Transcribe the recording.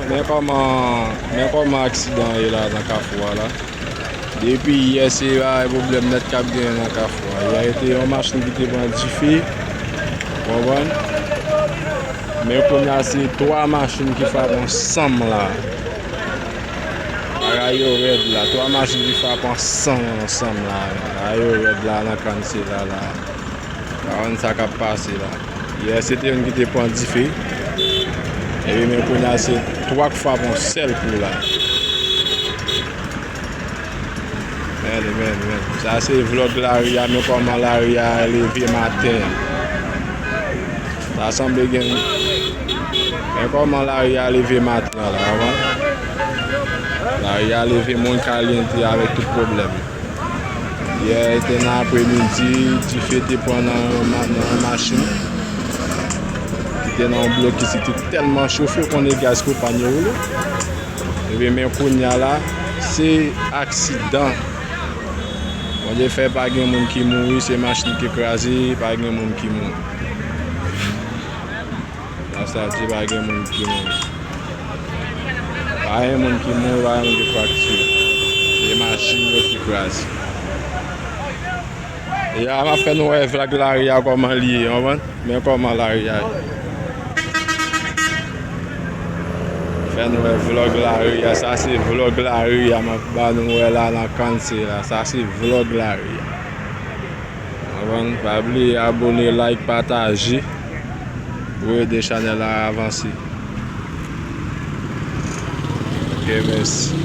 Men kòman aksidan ye la nan kafou a la. Depi yè se la e problem net kap gen nan kafou a. Yè ete yon machin ki te pran dife. Wawan. Men kon ya se 3 machin ki fap ansanm la. Ara yo red la. 3 machin ki fap ansanm ansanm la. Ara yo red la nan kan se la la. Karan sa kap pase la. Yè se te youn ki te pran dife. Epi men kounya se 3 k fap on sèl kou la. Men men men. Sa se vlog lari a men kòman lari a leve maten an. Ta sanble gen Men kòman lari a leve maten an la. Lari a leve moun kalyante avèk tout pwoblèm yo. Yè te nan apre midi, dife te pran nan yon machin ki te nan yon blokis li te tèlman chofe kon e gaz pwopàn yo woule. Epi men kounya la, se aksidan. Bondye fè pa gen moun ki mouri, se machin ki kraze, pa gen moun ki mouri. Nan sa di pa gen moun ki mouri. Pa gen moun ki mouri, pa gen moun ki frakture. Se machin yo ki kraze. E a map fè nou wè vlag la ri a koman li ye, anvan. Men koman la ri a ye. Fè nou wè vlog la ri a. Sa se vlog la ri a map ba nou wè la nan Kanse la. Sa se vlog la ri a. Avann pa bliye abone like pataje pou ede chanel la avanse. Ok mèsi.